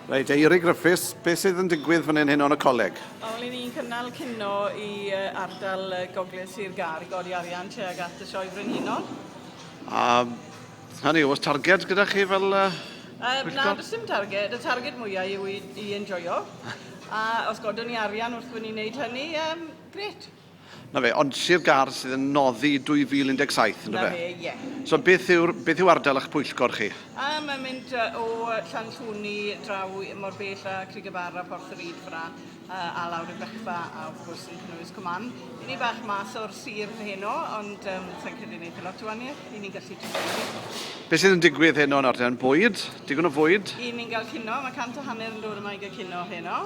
Reit, Eiry Griffiths, beth sydd yn digwydd fan hyn hyn o'n y coleg? Wel, ry'n ni'n cynnal cino i ardal Gogledd Sir Gar i godi arian tuag at y Sioe Frenhinol. A hynny, oes targed gyda chi fel uh, um, Na, does dim targed. Y targed mwyaf yw i, i enjoyo. a os godwn ni arian wrth fyny wneud hynny, um, gret. 'Na fe, ond Sir Gâr sydd yn noddi 2017, yndyfe? 'Na fe, ie. So beth yw'r, beth yw ardal eich pwyllgor chi? A, mae'n mynd o Llanllwni draw mor bell â Crug y Bar a Porth y Ryd fyna, a lawr i Bechfa, a wrth gwrs yn cynnwys Cwm Ann. Ry'n ni bach mas o'r sir heno, ond um, sa'n credu wneud lot o waniaeth, ry'n ni'n gallu trwy Beth sydd yn digwydd heno yn ardal? Bwyd? Digon o fwyd? Ry'n ni'n cael cino, mae cant a hanner yn dod yma i gael cino heno.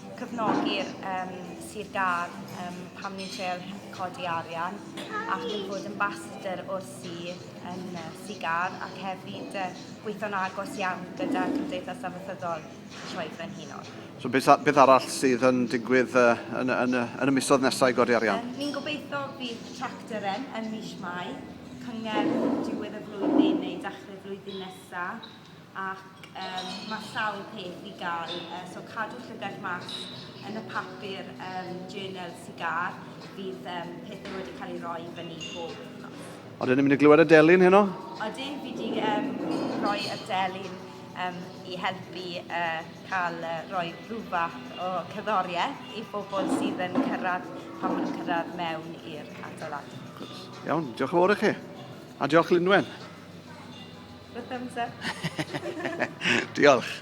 cefnogi'r um, Sir Gâr um, pam ni'n treol codi arian ac yn bod yn basadr o'r sir yn uh, Sigar ac hefyd uh, gweithio'n agos iawn gyda Cymdeithas Amaethyddol Troed Frenhinol. So beth, beth arall sydd yn digwydd uh, yn, yn, yn, yn y misoedd nesaf i godi arian? Um, ni'n gobeithio bydd tractor yn, yn mis Mai, cyngerdd diwedd y flwyddyn neu dachrau flwyddyn nesaf ac um, mae sawl peth i gael. Uh, so cadw llygaid mas yn y papur um, journal sigar, bydd um, pethau wedi cael ei roi fyny bob wythnos. Oedden ni'n mynd i glywed y delyn heno? Oedden, fi wedi um, rhoi y delyn um, i helpu uh, cael uh, rhoi rhywbeth o cyddoriaeth i bobl sydd yn cyrraedd pan maen nhw'n cyrraedd mewn i'r adeilad. Iawn, diolch yn fawr i chi. A diolch Lynwen. Diolch.